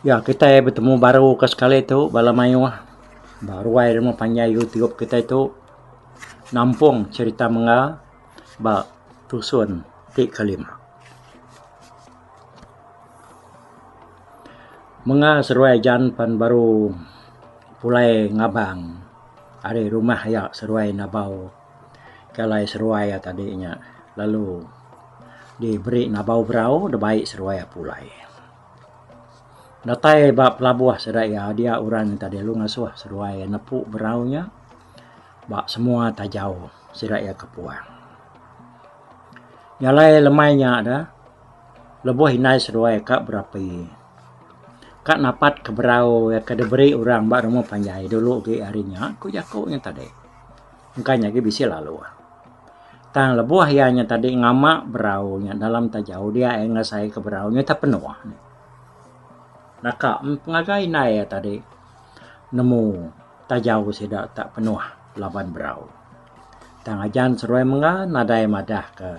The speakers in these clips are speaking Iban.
Ya kitai betemu baru ke sekali tu bala mayuh ba ruai rumah panjai Youtube kitai tu nampung cherita mengga ba tusun ti kelima. Menga seruai jan pan baru pulai ngabang ari rumah iya seruai nabau ke alai seruai iya tadi nya lalu diberi nabau berau da bai seruai iya pulai. Datai ba pelabuh sida iya dia orang tadi lalu ngasuh seruai nepu berau nya ba semua tajau sida iya ke puang. Jalai lemai nya da lebuh indai seduai ka berapi ka napat ke berau iya ke diberi orang ba rumah panjai dulu agi hari nya ku jaku nya tadi engka nya agi bisi lalu tang lebuh iya nya tadi ngama berau nya dalam tajau dia iya ngasai ke berau nya ita penuh naka pengagai indai iya tadi nemu. Taja sida tak penuh laban berau. Tang ajan seruai menga nadai madah ka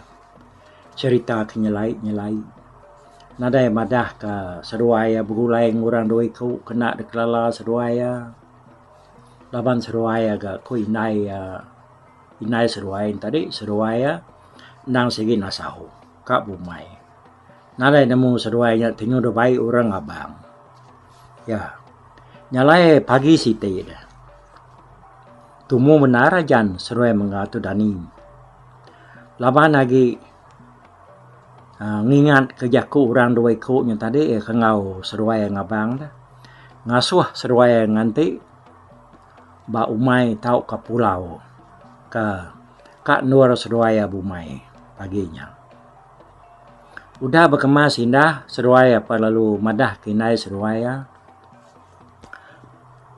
cerita ke nyelai nyelai. Nadai madah ka seruai iya begulai ngan orang dua iku kena dek lala seruai iya. Laban seruai iya ga ku indai iya indai seruai tadi seruai iya endang sigi nasau ka bumai. Nadai nemu seduai nya ti nuduh bai urang abang. Ya. Nya alai pagi siti deh. Tumu bendar ajan seduai mengga tu dani. Laban agi aaa ngingat ke jaku urang dua iku nya tadi ke enggau seduai enggau abang deh. Ngasuh seduai ngan ti ba umai tauka pulau ke ka endur seduai bumai pagi nya. Udah bekemas indah seruai apai lalu madah ke indai seruai iya.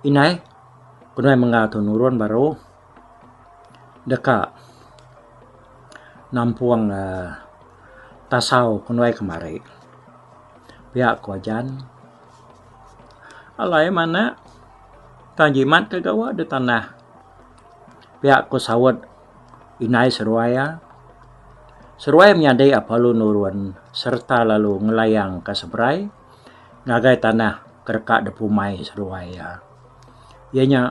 Indai ke nuan mengga tu nurun baru deka nampung aaa tasau ke nuai kemari. Pia ko ajan alai manak tang jimat ke gawa di tanah. Pia ko saut Inai seruai iya. Seruai menyadi apalu nurun sereta lalu ngelayang ka seberai ngagai tanah ke deka dipumai seruai iya. Iya nya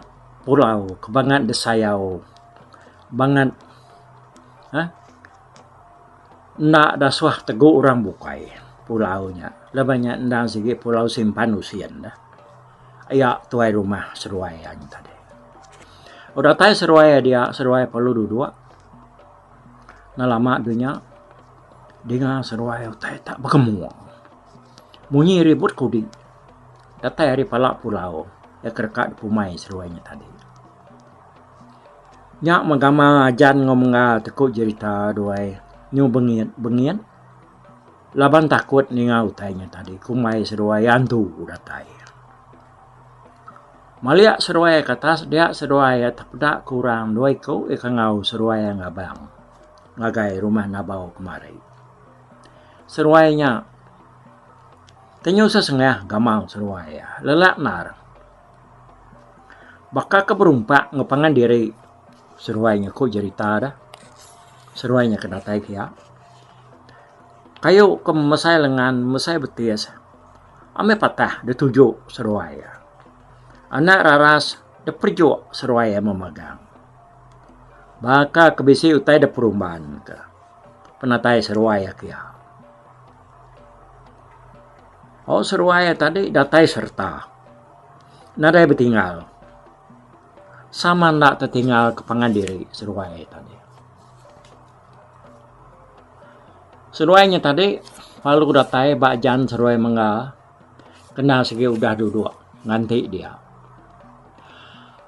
pulau ke bangat disayau bangat uhh enda disuah tegu orang bukai pulau nya. Laban nya enda sigi pulau simpan usin. Iya tuai rumah seruai iya nya tadi. Udah datai seruai iya dia, seruai perlu duduk enda lama dulu nya dinga seruai utai tak begemuk. Munyi ribut kudi. Datai ari pala pulau iya ke deka dipumai seruai nya tadi. Nya meh gamal ajan enggau menggal ti ku jerita duai nyu bengit bengit. Laban takut ninga utai nya tadi kumbai seduai antu datai. Maliak seduai ke atas dia seduai iya tepeda ke orang dua iku iya ke enggau seduai iya ngabang ngagai rumah Nabau kemari. Seduai nya tenyu sesengah gamal seduai iya lelak endar baka ke berumpak ngepangan diri. Seruai nya ku jerita da. Seruai nya ke datai pia. Kayu ke mesai lengan mesai betis amai patah da tuju seruai iya. Anak raras da perejuk seruai iya memagang. Baka ke bisi utai da perumban ka penatai seruai iya pia. Au seruai iya tadi datai sereta nadai betinggal. Sama enda tetingal ke pangan diri seduai tadi. Seduai nya tadi lalu datai ba jan seduai mengga kena sigi udah duduk nganti dia.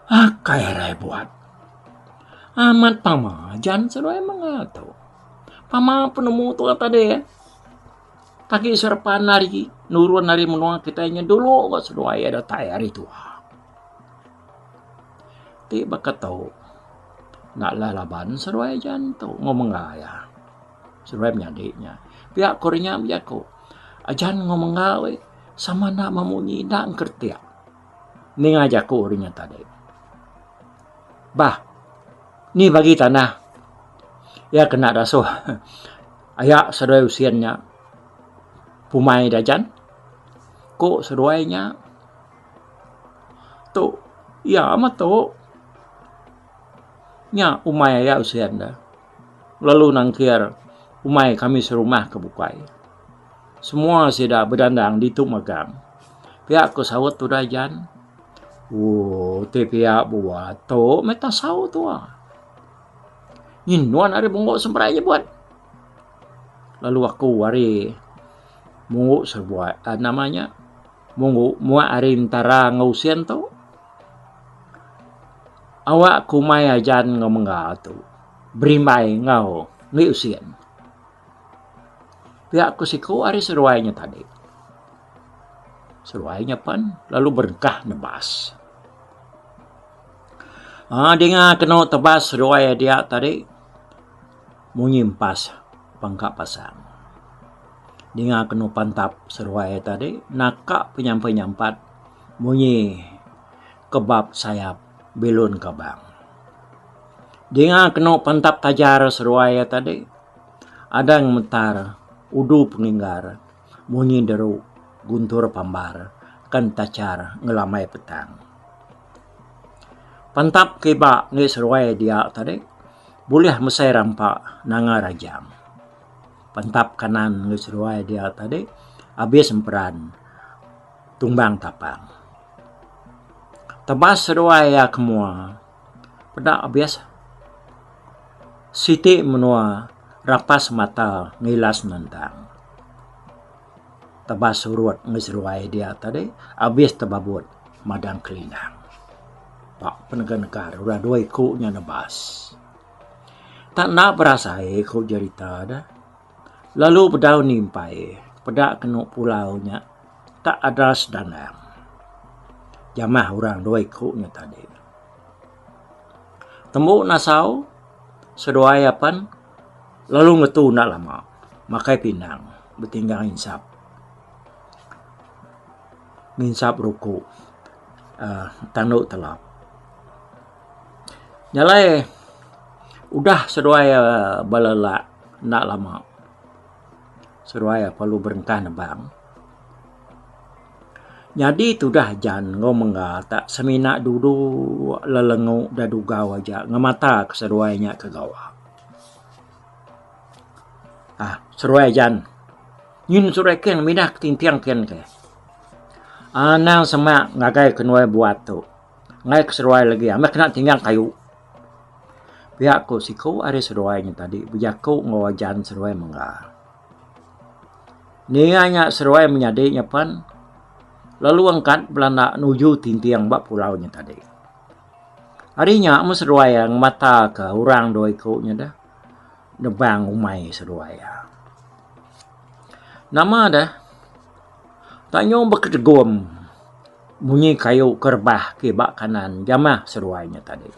Akai alai buat. Amat pama jan seduai mengga tu. Pama penemu tu tadi. Tagi sera pandai agi nurun ari menua kitai nya dulu ba seduai iya datai hari tuha. Ti baka tu enda lah laban seduai nya ujan tu mung mengga iya. Seduai menyadi nya. Pia ku nya bejaku ujan mung mengga we sama enda memunyi enda ngkretik. Ninga jaku ri nya tadi. Bah ni bagi tanah iya kena dasuh Aya seduai usin nya pumai dajan. Ku seduai nya, Tu, iya meh tu. Nya umai aya usin deh. Lalu nangkir umai kami serumah ke bukai. Semua sida bedandang ditu megang. Pia ku saut tu dajan. Ooh, ti pia buah tu meh tasau tuak. Nyin nuan ari munggu seberai je buat. Lalu aku ari munggu sebuai uh, nama nya munggu muak ari entara ngau usin tu. Awak kumai ajan ngau mengga tu. Berimbai ngau ngi usin. Pia ku siku ari seruai nya tadi. Seruai nya pen lalu berengkah nebas. Aa dinga kenu tebas duai a diak tadi munyi empas apan ka pasang dinga kenu pantap seduai a tadi naka penyampai nyampat munyi kebab sayap bilun kabang dinga kenu pantap tajar seduai a tadi adang metar udu penginggar Munyi deru guntur pambar kan tachar ngelambai petang. Pantap ke iba enggai seruai dia tadi bulih mesai rampa nanga rajang. Pantap kanan enggai seruai dia tadi abis emperan tumbang tapang. Tebas seduai iya ke mua. Peda abis siti menua rapas mata ngilas nendang tebas surut meh seduai dia tadi abis tebabut madang kelinang. Ba penegah negah deh udah dua iku nya nebas. Tang enda berasai ku jerita deh. Lalu bedau nimpai peda kenu pulau nya tak ada sedandang jamah orang dua iku nya tadi. Tembu nasau seduai apan lalu ngetu enda lama makai pindang betinggang insap nginsap ruku aaa tandu telap. Nya alai udah seduai bala lelak enda lama seduai perlu berengkah nebang nyadi tudah jan enggau mengga ta semina dulu lelengu da dugau aja ngemata ke seduai nya ke gawa um seduai jan ngin seduai ken minah ke tinting ken ke anang semak ngagai ke nuai buat tu. Enggai ke seduai lagi meh kena tinggal kayu. Pia ku siku ari seduai nya tadi bejaku enggau ajan seduai mengga. Ninga nya seduai menyadi nya pen lalu angkat belanda nuju tinting ba pulau nya tadi. Ari nya mun seduai ngemata ke orang dua iku nya deh nebang umai seduai iya. Nama deh tanyung beketegum. Munyi kayu ke rebah ti ba kanan jamah seruai nya tadi.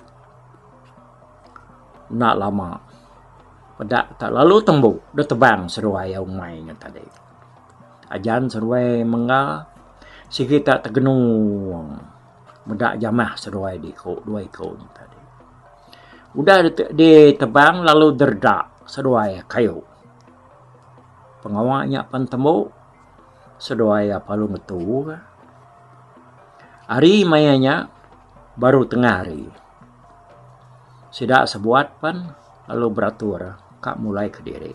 Enda lama peda tak lalu tembu deh tebang seruai iya umai nya tadi. Ajan seruai mengga sigi tak tegenung meda jamah seruai diku dua iku nya tadi. Udah ditebang lalu deredak seruai kayu. Pengawa nya pen tembu. Seduai iya palu ngetu ka. Hari maya nya baru tengah hari. Sida sebuat pen lalu beratur ka mulai kediri.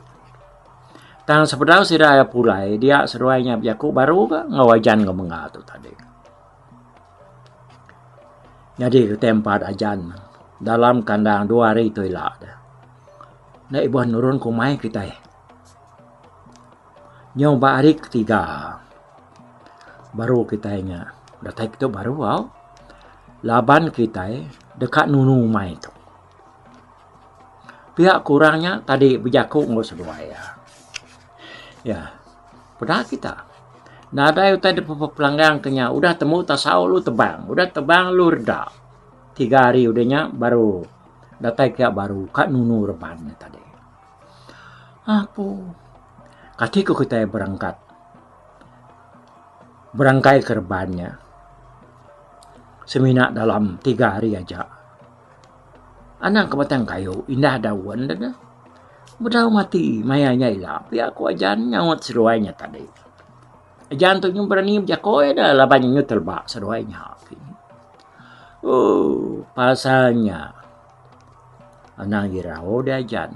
Tang sebedau sida iya pulai dia seduai nya bejaku baru ka enggau ajan enggau menga tu tadi. Nyadi kitai empat ajan dalam kandang dua hari tu ila deh. Enda ibuh nurun ke umai kitai. Nyau ba hari ketiga baru kitai nya datai kitu baru au laban kitai deka nunu umai tu. Pia ku orang nya tadi bejaku enggau seduai iya. Iya peda kita nadai utai dep bepelanggang ke nya udah temu tasau lu tebang udah tebang lu reda. Tiga hari udah nya baru datai pia baru ka nunu reban nya tadi. Apu. Kati ku kitai berengkat berengkai ke reban nya semina dalam tiga hari aja. Anang ke batang kayu indah daun de neh bedau mati maya nya ila pia ku ajan nyaut seduai nya tadi. Ajan tu nyun berani bejako iya da laban iya nyun teleba seduai nya. Ooh pasal nya. Anang irau dia Jan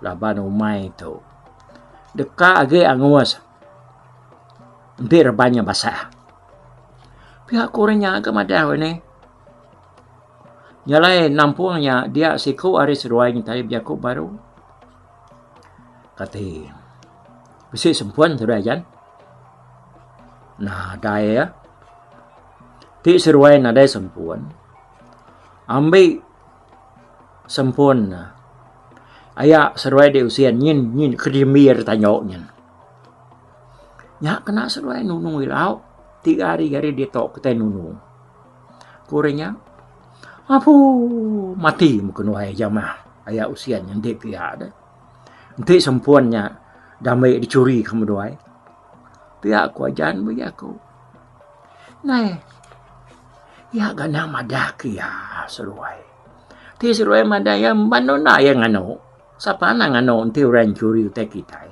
laban umai tu deka agi angus enti reban nya basah. Pia ku orang nya ke madau ini. Nya alai nampung nya dia siku ari seduai ngintai bejaku baru. Kati bisi sempun tu dia Jan. Nadai ah. Ti seduai nadai sempun. Ambi sempun aya seduai di usin nyin nyin ke dimbi ari tanyo nyin. Nya kena seduai nunu ilau tiga hari ari ditu ke tai nunu. Ku ri nya apu mati mu kenuai jamah aya usin nyin ti pia deh. Enti sempun nya dambe dicuri ke meduai pia ku ajan meh iya ku. Neh. Iya ganang madah ke iya seruai. Ti seruai madah iya emban nunda iya nganu. Sapa nang nganu enti orang nyuri utai kitai.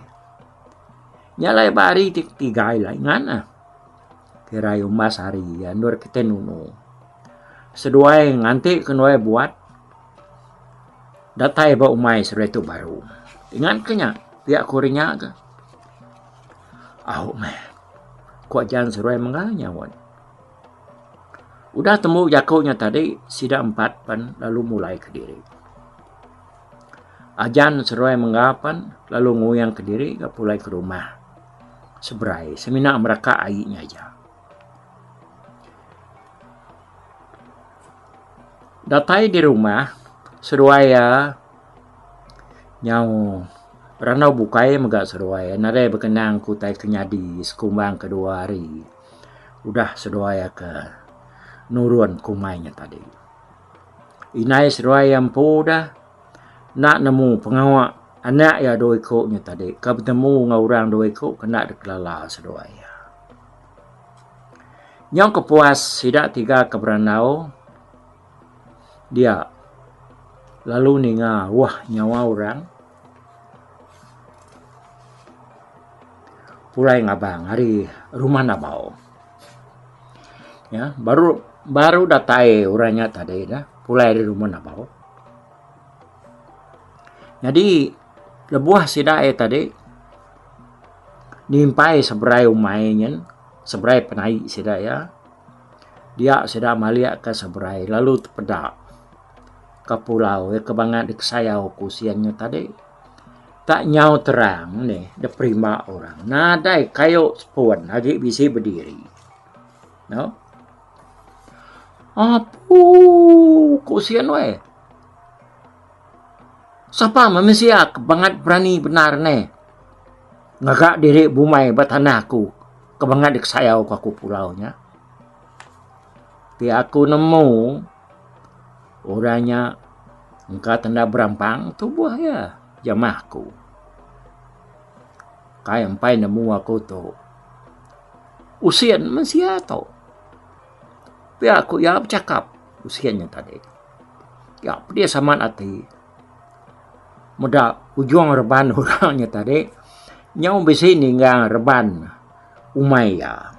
Nya alai ba hari ti ketiga alai ngan neh. Kira iya umbas hari iya endur kitai nunu. Seduai nganti ke nuai buat datai ba umai seruai tu baru. Ingat ke nya pia ku ri nya ke. Au meh. Ku Jan seruai mega nyaut. Udah tembu jaku nya tadi, sida empat pen lalu mulai kediri. Jan seruai mega pen lalu nguyang kediri ga pulai ke rumah Seberai semina meraka ai nya aja. Datai di rumah, seruai iya Nyau randau bukai mega seduai iya nadai bekenang ke utai ke nyadi sekumbang ke dua hari udah seduai iya ke nurun kumbai nya tadi. Indai seduai iya empu da enda nemu pengawa anak iya dua iku nya tadi ke betemu enggau orang dua iku ke enda dep kelala seduai iya. Nyau kepuas sida tiga ke berandau. dia lalu ninga wah nyawa orang pulai ngabang ari rumah Nabau. Iya baru baru datai orang nya tadi dah pulai ari rumah Nabau. Nyadi lebuh sida aye tadi nimpai seberai umai nyin seberai penai sida iya Dia sida malik ka seberai lalu tepeda ka pulau iya ke bangat dikesayau ku sien nya tadi. Tak nyau terang nih da perima orang nadai kayu sepun agi bisi bediri. No. Apuu ku sien weh. Sapa manusia ke bangat berani bendar nih ngaga diri bumai ba tanah ku. Kemangat dikesayau ku aku pulau nya. Ti aku nemu orang nya engka tenda berampang tubuh iya jamah aku. Kai empai nemu aku tu usin meh sia tu. Pia ku iya bechakap usin nya tadi. Iya pedis amat ati. meda ujung reban orang nya tadi nyau bisi ninggang reban umai iya.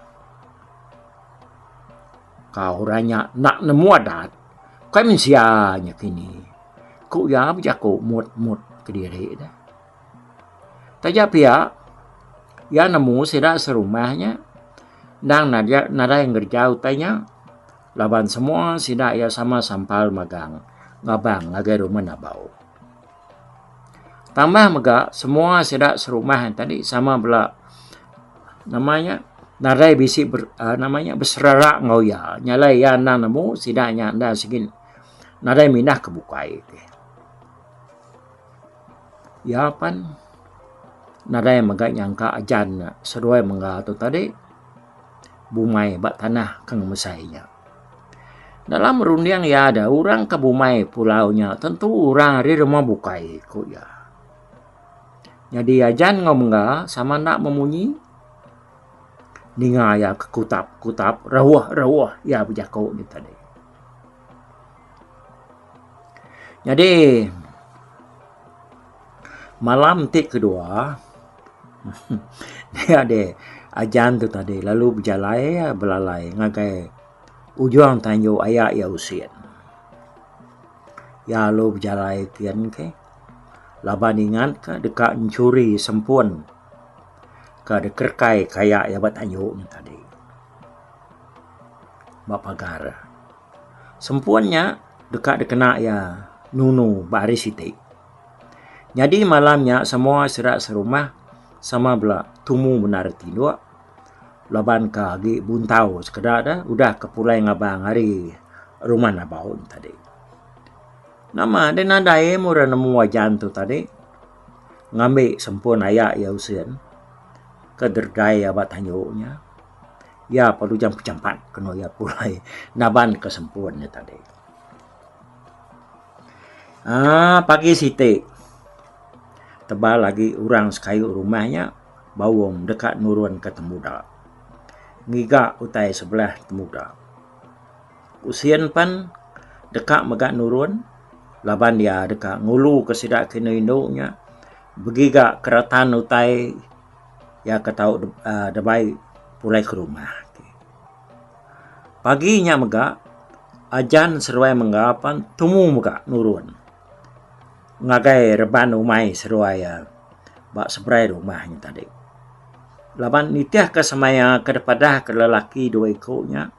Tau orang nya enda nemu adat kai mensia nya kini. Ku iya bejaku mut mut kediri ne. Taja pia iya nemu sida serumah nya endang nadai ngereja utai nya. Laban semua sida iya sama sampal magang ngabang ngagai rumah Nabau. Tambah mega semua sida serumah tadi sama bela nama nya nadai bisi ber, uh, nama nya beserara ngau iya. Nyalai iya endang nemu sida nya endang segin nadai mindah ke bukai. Ya pan nadai mega nyangka ajan seduai mengga tu tadi. bumai ba tanah ke ngemesai nya. Dalam runding iya ada orang ke bumai pulau nya tentu orang ari rumah bukai ku iya. Nyadi ajan enggau mengga sama enda memunyi ninga iya ke kutap kutap rauh rauh iya bejaku nya tadi. Nyadi malam ti kedua nya deh ajan tu tadi lalu bejalai iya belalai ngagai ujung tanju aya iya usin. Iya lalu bejalai kian ke laban ingat ka deka nyuri sempun ka dekerekai ka aya iya ba tanju nya tadi ba pagar. Sempun nya deka dikena iya nunu ba hari siti. Nyadi malam nya semua sida serumah sama bela tumu bendar ati duk laban ka agi buntau sekeda da udah ke pulai ngabang ari rumah Nabaun tadi. Nama deh nadai eh murih nemu ajan tu tadi ngambi sempun aya iya usin ke derdai iya ba tandu nya. Iya perlu jam ke jampat kenu iya pulai naban ke sempun nya tadi. Aaa pagi siti tebal agi orang sekayu rumah nya baum deka nurun ke temuda ngiga utai sebelah temuda. Ku sin pen deka mega nurun laban iya deka ngulu ke sida ke inu inu nya begiga keratan utai Iya ke tau debai pulai ke rumah. Pagi nya mega, Ajan seruai mengga pan tumu mega nurun ngagai reban umai seruai iya ba seberai rumah nya tadi. Laban nitihka semaya ke dipadahka lelaki dua iku nya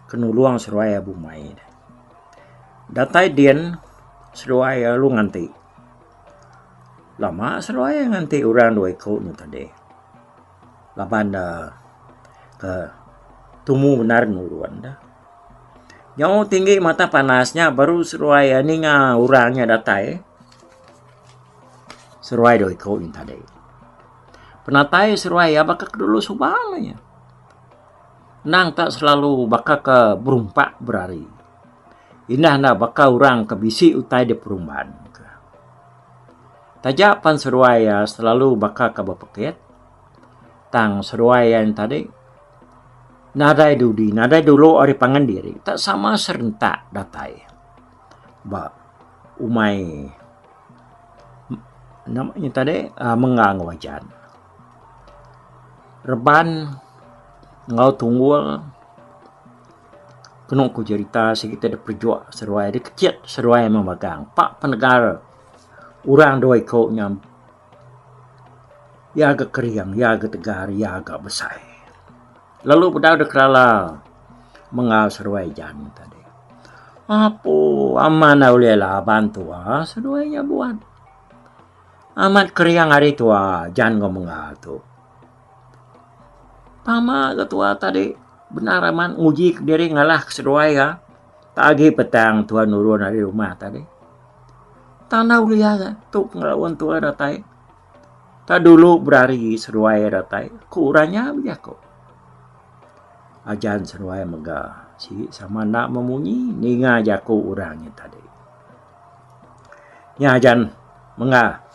ke nulung seruai iya bumai. Datai din, seruai iya lalu nganti. Lama seruai nganti orang dua iku nya tadi laban ne ke tumu bendar nurun ne. Nyau tinggi matah panas nya baru seruai ninga orang nya datai seruai dua iku nya tadi. Penatai seruai iya baka ke dulu suba aja. Nang ka selalu baka ke berumpak berari. Indah enda baka orang ke bisi utai di perumban. Taja pan seduai iya selalu baka ke bepekit, tang seduai iya nya tadi nadai dudi, nadai dulu ari pangan diri tak sama serentak datai ba umai nama nya tadi mengga enggau ajan. Reban enggau tunggul Kenu ku jerita sigi ti dep pejok seruai deh kechet seruai meh megang pak penegal orang dua iko nya iya ga kering iya ga tegar iya ga besai lalu bedau deh kelala mengau seruai jan tadi apo aman dau ulih laban tua seduai nya buat amat kering ari tua jan enggau mengau tu. Tama ga tua tadi bendar amat nguji kediri ngalah ke seduai ga tak agi petang tuan nurun ari rumah tadi tanda ulia ga tu pengereun tua datai tak dulu berari seduai ga datai ku orang nya bejaku ajan seduai mega sigi sama enda memunyi ninga jaku orang nya tadi nya ajan mega.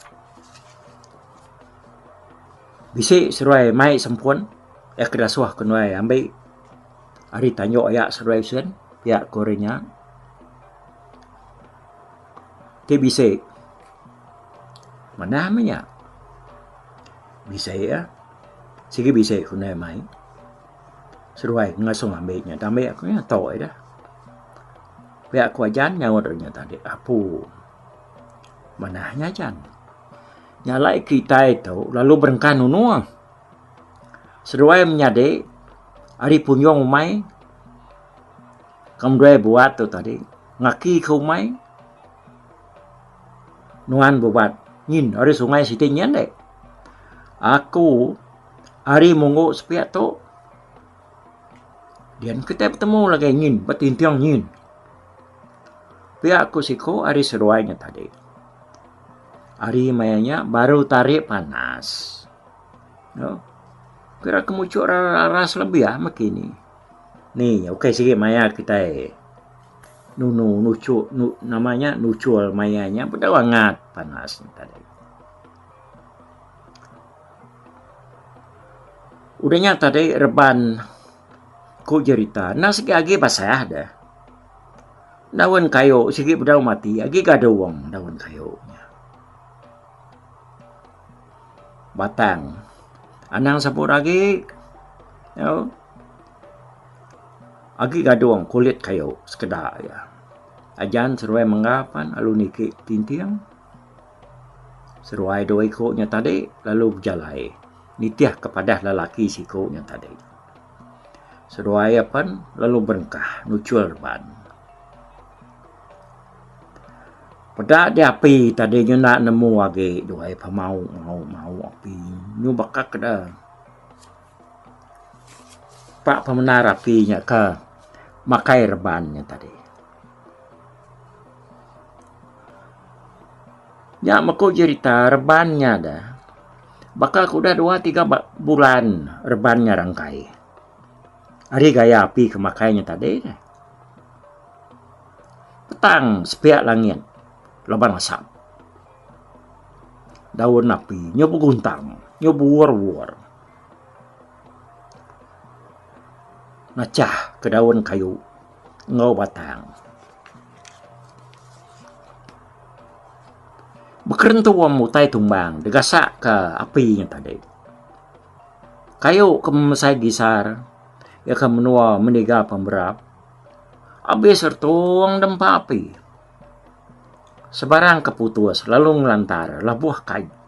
Bisi seruai mai sempun iya ke dasuh ke nuai ambi ari tanju iya seruai sien iya ke ori nya ti bisi manah meh nya bisi iya sigi bisi ke nuai mai seruai ngasung ambi nya ambi aku nya tu ida pia aku ajan nyaut nya tadi apu manah nya ajan. Nyalai kitai tu lalu berengkah nunung. Seduai menyadi ari punjung umai kemuai buat tu tadi ngaki ke umai nuan bebuat nyin ari sungai siti nyin deh. Aku ari munggu sepiak tu dian kitai betemu lagi nyin betinting nyin. Pia ku siko ari seduai nya tadi. Hari maya nya baru tarik panas. No. Kira kemuchuk raras lebih ah meki ni. Ni okey sigi maya kitai nunu nuchuk nu nama nya nuchul maya nya bedau angat panas nya tadi. Udah nya tadi reban Ku jerita, endang sigi agi basah deh. Daun kayu sigi bedau mati agi gadung daun kayu nya. Batang anang seput agi au agi gadung kulit kayu sekeda iya. Ajan seruai mengga pan lalu niki tinting seruai dua iku nya tadi lalu bejalai. nitih ke padah lelaki siku nya tadi. Seduai iya pen lalu berengkah nuchul reban. Peda diapi tadi nyenda nemu agi duai pemau mau mau api nyu baka ke da pa pemendar api nya ka makai reban nya tadi. Nya meko jerita reban nya da baka ku udah dua tiga bulan reban nya rangkai. Ari gaya api ke makai nya tadi ne petang sepiak langit laban asap. Daun api nyu beguntang nyu buor buor nachah ke daun kayu. enggau batang. Bekerentu wang utai tumbang digasak ke api nya tadi. Kayu ke memesai gisar, ia ke menua meniga pemberap, abis retung dempa api. Sebarang ke putus lalu ngelantar labuh kayu.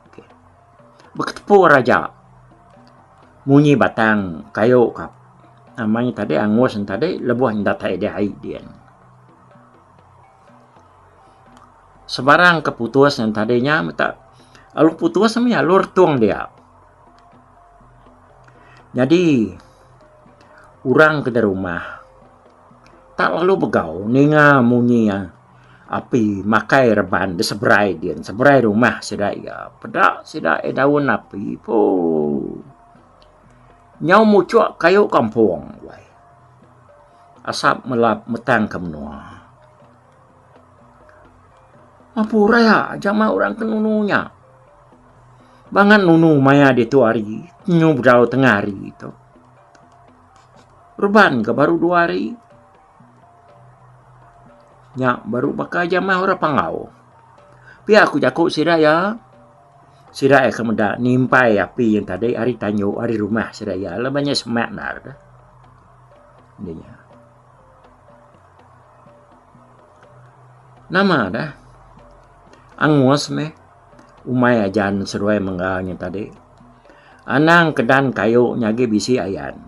Beketepur aja munyi batang kayu ka nama nya tadi angus nya tadi lebuh nya datai deh ai din. Sebarang ke putus nya tadi nya mita lalu putus nya mih alur tung dia. Nyadi orang ke da rumah tak lalu begau ninga munyi. Api makai reban beseberai din seberai rumah sida iya. Peda sida iya daun api poo. Nyau muchok kayu kampung wai. Asap melap metang ke menua. Mapura iya jama orang ke nunu nya. Ba ngan nunu maya ditu hari nyu bedau tengah hari tu. Reban ke baru dua hari Nya baru baka aja meh orang Panggau. Pia ku jaku sida iya, sida iya ke meda nimpai api yen tadi ari tanyu ari rumah sida iya laban nya semak ndar deh. Nih nya. Nama deh angus meh umai ajan seduai mengga nya tadi. Anang kedan kayu nya agi bisi ayan.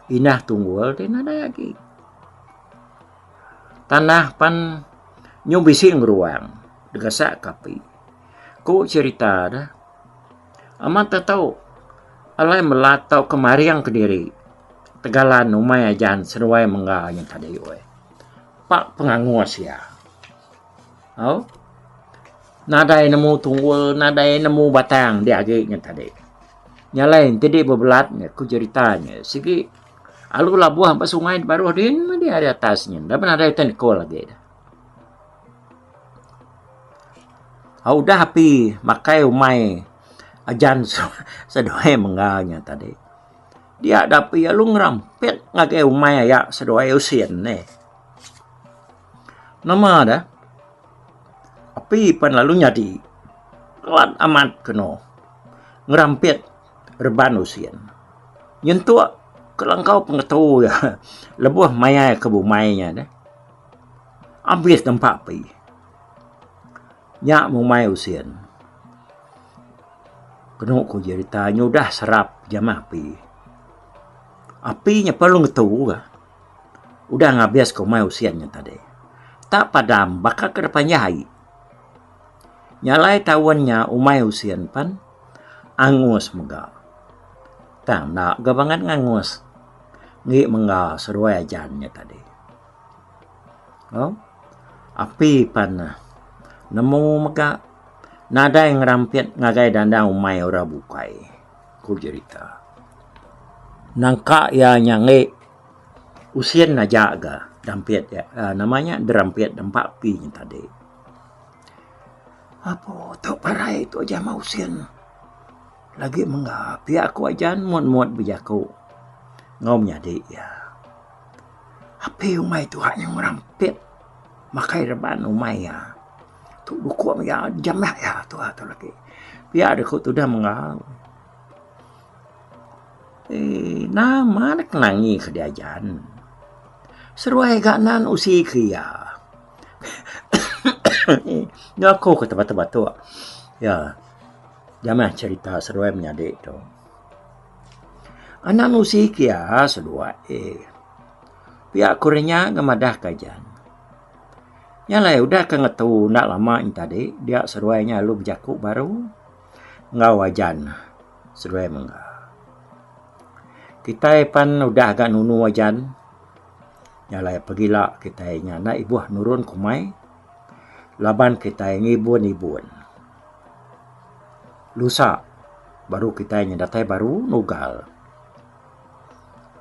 Inah Tunggul ti nadai agi. Tanah pan nyau bisi ngeruang degasak ke api. Ku cerita de, amat te tau alai melat tau ke maring kediri tegalan umai ajan seduai mengga nya tadi weh. Pa pengangus iya. Au, nadai nemu tunggul, nadai nemu batang diagi nya tadi. Nya alai enti dih bebelat nya ku jerita nya sigi alu labuh ba sungai da baruh din meh dih ari atas nyin dah pun nadai ikan iko lagi dah. Au udah api makai umai ajan seduai mengga nya tadi dia dah api alu ngerampit ngagai umai aya seduai usin nih. Nama da? Api pan lalu nyadi kelat amat keno ngerampit reban usin. Nyentuk kelangkau pengetu iya lebuh mayar ke bumai iya deh. Abis nempa api. Nya bumai usin. Keno ku jerita nya udah serap jamah api. Api nya perlu ngetu ka. Udah ngabis komai usin nya tadi. Tak padam baka ke deka panjah ai. Nya alai taun nya umai usin pen angus mega. Tang enda ga bangat ngangus enggi mengga seduai ajan nya tadi. Au api pen nemu mega nadai ngerampit ngagai dandang umai ora bukai. ku jerita. Nangka iya nyangi usin aja ga dampit iya aaa nama nya derampit dempa pi nya tadi. Apo tu parai tu aja meh usin lagi mengga pia ku ajan muat muat bejaku enggau menyadi iya. Api umai tuha nya ngerampit makai reban umai iya. Tu buku mega jamah iya tuha tu lagi. Pia deh ku tudah mega. Eh, nama dek nangi ke diajan. Seruai ga nan usi ke iya. Nya aku ke tebak-tebak tu. Ya. Jamah cerita seruai menyadi tu. Anak usi ke iya seduai. Pia ku renya ngemadah ke jan. Nya alai udah ke ngetu enda lama nya tadi dia seduai nya lalu bejaku baru enggau ajan seduai mengga. Kitai pan udah ga nunu ajan nya alai pegila kitai nya enda ibuh nurun ke umai laban kitai ngibun ibun lusa baru kitai nya datai baru nugal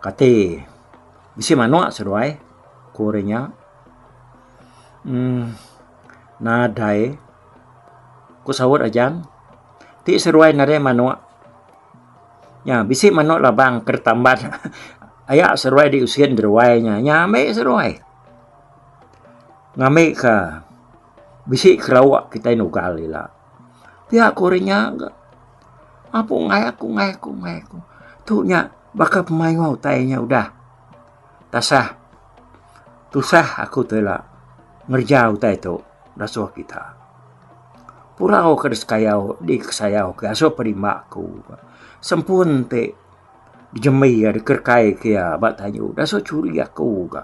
kati. Bisi manok seduai, ku ori nya. Um, nadai, ku saut Ajang. Ti seduai nadai manok. Nya, bisi manok labang ke ditamban. Aya seduai diusin deduai nya. Nya ambi seduai. Ngambi ke bisi kerauk kitai nugal ila. Pia ku ori nya. Apu ungai aku, ungai aku, ungai aku. Tu nya, Baka pemaioa utai nya udah tasah tusah aku tela ngereja utai tu ngasuh kita. Purau ke disekaiau dikesaiau ke asuh perimba aku sempun ti dijembi iya dikerekai ke iya ba tayu disuh churi aku ga.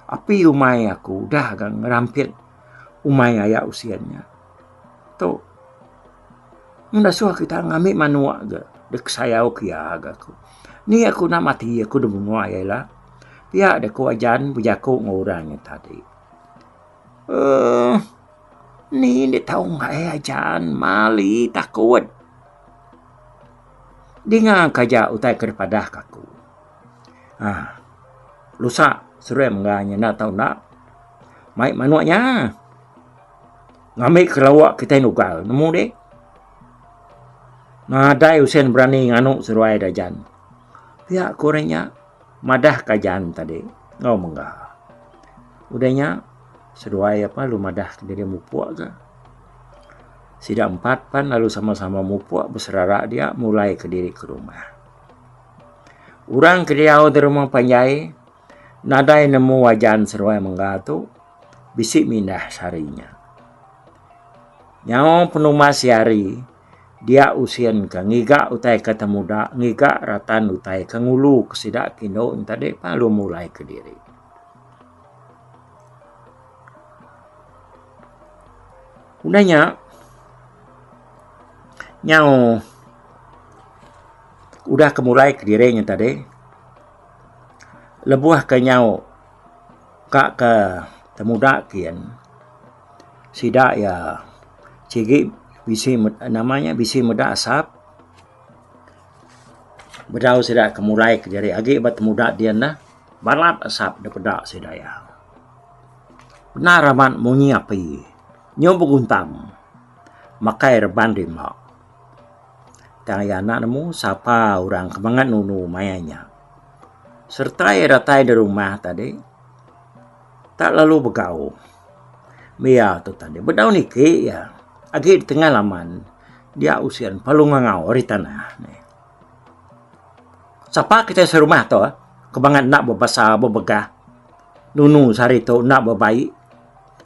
Api umai aku udah ga ngerampit umai aya usin nya tu. Enda suah kita ngambi manuk ga dek sayau ke iya ga ku. Ni aku enda mati aku enda menua iya ila. Pia de ku ajan bejaku enggau orang nya tadi. Uhh ni enda tau ngaih ajan mali takut. Dinga ka ja utai ke dipadah ka aku. Uhh lusa serem ga nya enda tau enda. Mai manuk nya. Ngambi kerawak kitai nugal nemu deh. Nadai usen berani nganu seruai dajan. Pia ku orang nya madah ka jan tadi enggau mengga. Udah nya seruai apa lu madah ke diri mupuk ke. Sida empat pan lalu sama-sama mupuk beserara dia mulai ke diri ke rumah. Orang ke diau di rumah panjai Nadai nemu wajan seruai mengga tu bisi mindah sehari nya. Nyau penumas iya hari dia usin ke ngiga utai ke temuda ngiga ratan utai ke ngulu ke sida ke indu nya tadi pan lalu mulai kediri. Udah nya nyau udah ke mulai kediri nya tadi. Lebuh ke nyau ka ke temuda kian sida iya sigi bisi nama nya bisi meda asap bedau sida ke mulai kediri agi ba temuda dian neh balat asap da peda sida iya. Bendar amat munyi api nyu beguntam makai reban rima. Tang iya anak nemu sapa orang ke mangat nunu maya nya. Sereta iya datai da rumah tadi tak lalu begau meh iya tu tadi bedau niki iya agi da tengah laman dia usin palu ngangau ari tanah. Sapa kitai serumah tu ke mangat enda bebasa bebegah nunu sehari tu enda bebaie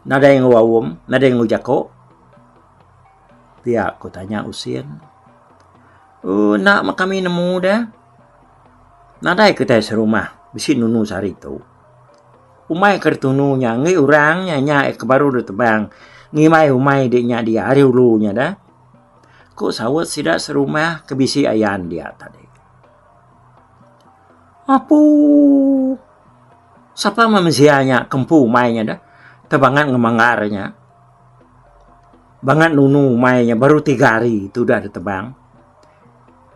nadai enggau aum nadai enggau jako. Pia ku tanya Usin. U enda meh kami nemu deh. Nadai kitai serumah bisi nunu sehari tu. Umai ke ditunu nya enggai orang nya nya ke baru deh tebang ngimbai umai deh nya dia hari ulu nya deh. Ku saut sida serumah ke bisi ayan dia tadi. Apu! Sapa meh mensia nya ke empu umai nya deh tebangan ngemanggar nya. Bangat nunu umai nya baru tiga hari tudah deh tebang.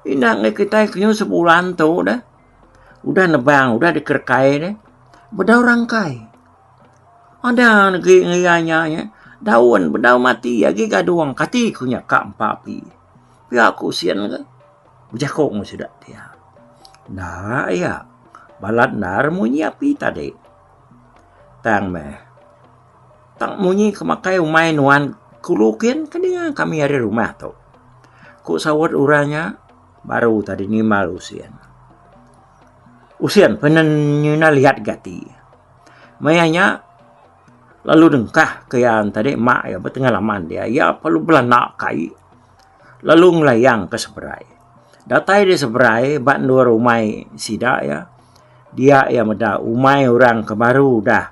Ina ngaih kitai kenyau sebulan tu deh udah nebang udah dikerekai deh bedau rangkai. Ada legi ngaih iya nya eh daun bedau mati agi gadung kati ku nya ka empa api. Pia ku sien ke bejaku enggau bisi sida ti iya. Enda iya balat enda remunyi api tadi. Tang meh. Tang munyi ke makai umai nuan kulu kin ke dinga kami ari rumah tu, ku saut orang nya baru tadi nimbal usin. Usin pun ne nyinah liat gati. Maya nya lalu dengkah ke iya tadi mak iya betengah laman dia, iya lalu belanda kai lalu ngelayang ke seberai. Datai di seberai ba endur umai sida iya, dia iya meda umai orang ke baru udah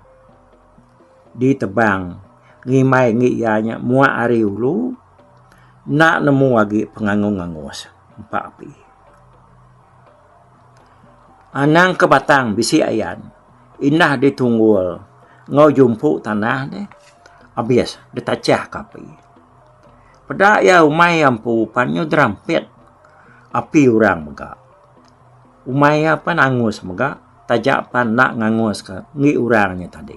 Ditebang ngimbai enggi iya nya muak ari ulu enda nemu agi pengangus angus empa api. Anang ke batang bisi ayan indah ditunggul enggau jumpu tanah deh abis ditachah ka api. Peda iya umai iya empu pan inya derampit api orang mega. Umai iya pan angus mega. Taja pan enda nganguska enggi orang nya tadi.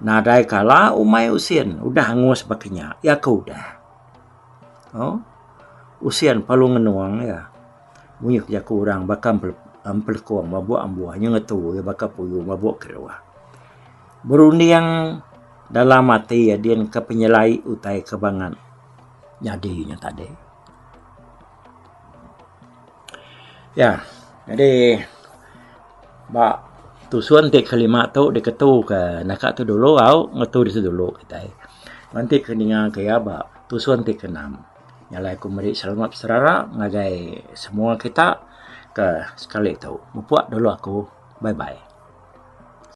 Nadai kala umai usin udah angus baka nya. Iya ke udah. Au. Usin perlu ngenung iya. Munyi ke jaku orang baka empelekong mabuk ambuh nya ngetu iya baka puyu mabuk keruh. Berunding dalam ati adinka penyelai utai ke bangat nyadi nya tadi. Ya, nyadi ba tusun ti kelima tu diketu ke naka tu dulu au ngetu disitu dulu kitai. Mung ti ke ninga ke iya ba tusun ti keenam nya alai ku meri selamat serara ngagai semua kita ke sekali tu. Mupuk dulu aku. Bye bye.